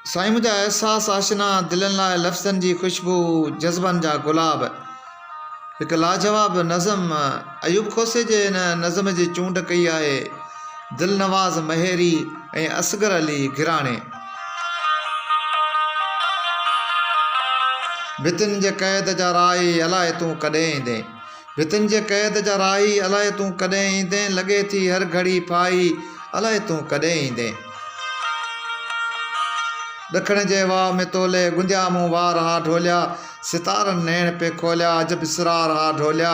سائين منهنجا احساس آشنا دلين لاء لفظن جي خوشبو جذبن جا گلاب هڪ لاجواب نظم ايوب کوسي جي هن نظم جي چونڊ ڪئي آهي دلنواز مهيري ۽ اصغر علي گراڻي ڀتين جي قيد جا راهي الائي تون ڪڏهن ايندين ڀتين جي قيد جا راهي، الائي تون ڪڏهن ايندين، لڳي ٿي هر گهڙي ڦاهي، الائي تون ڪڏهن ايندين. ڏکڻ جي واء ۾ تولي، گنديا مون وار ها ڍوليا، ستارن نيڻ پئي کوليا، عجب اسرار ها ڍوليا،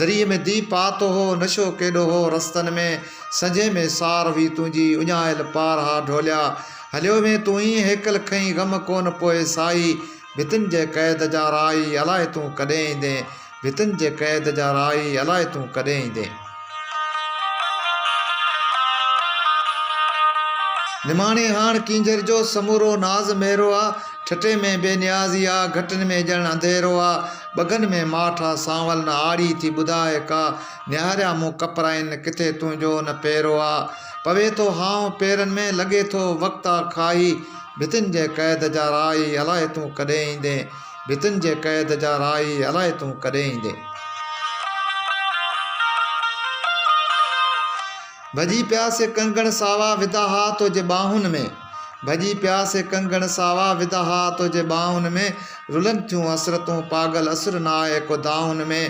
دريء ۾ دي پاتو هو، نشو ڪيڏو هو رستن ۾، سنجهي ۾ سار هئي تنهنجي، اڃايل پار ها ڍوليا، هليو وئين تون ايئن هيڪل کنئين، غم ڪونه پوئي ساهي، ڀتين جي قيد جا راهي، الائي تون ڪڏهن ايندين. ڀتين جي قيد جا راهي الائي تون ڪڏهن ايندين. نماڻي هاڻ ڪينجهر جو سمورو ناز ميرو آ. ٺٽي ۾ بي نيازي آ. گهٽين ۾ ڄڻ انڌيرو آ. ٻگهن ۾ ماٺ آ. سانول نه آڙي ٿي ٻڌاء ڪا. نهاريا مون ڪپرائين، ڪٿي تنهنجو نه پيرو آ. پوي ٿو هانء پيرن ۾، لڳي ٿو وقت آ کاهي. ڀتين جي قيد جا راهي الائي تون ڪڏهن ايندين. ڀتين جي قيد جا راهي الائي تون ڪڏهن ايندين. ڀڄي پيا سي ڪنگڻ ساوا وڌا ها تنهنجي ٻانهن ۾. ڀڄي پيا سي ڪنگڻ ساوا وڌا ها تنهنجي ٻانهن ۾. رلن ٿيون حسرتون پاڳل اسر ناهي ڪو دانهن ۾.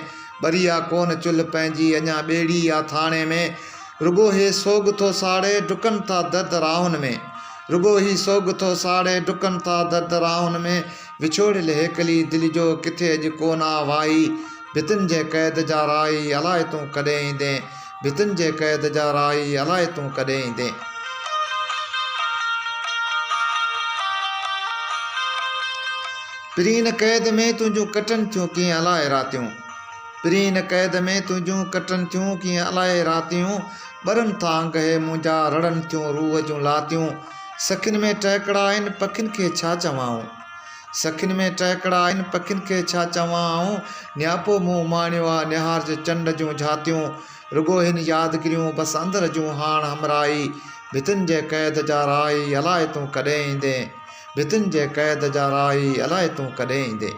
ٻري آ ڪونه چلهه پنهنجي اڃا ٻيڙي آ ٿاڻي ۾. رڳو هي سوڳ ٿو ساڙي ڊڪن ٿا درد راهن ۾. رڳو هي سوڳ ٿو ساڙي ڊڪن ٿا درد راهن ۾. وڇوڙيل هيڪلي دل جو ڪٿي اڄ ڪو نه آوائي ڀتن جي قيد جا رائي الاء تون ڪڏهن ايندين ڀتن جي قيد جا رائي الاء تون ڪڏهن ايندين. پرين قيد ۾ تنهنجون ڪٽن ٿيون ڪيئن الاء راتيون پرين قيد ۾ تنهنجون ڪٽن ٿيون ڪيئن الاء راتيون ٻرن ٿا انگ هي منهنجا رڙن ٿيون روح جون لاتيون سکن ۾ ٽهڪڙا آهن پکين کي ڇا چوان آئون سکن ۾ ٽهڪڙا آهن پکين کي ڇا چوان آئون نياپو مون اماڻيو آ نهارج چنڊ جون جهاتيون رڳو هن يادگريون بس اندر جون هاڻ همراهي ڀتين جي قيد جا راهي الائي تون ڪڏهن ايندين ڀتين جي قيد جا راهي الائي تون ڪڏهن ايندين.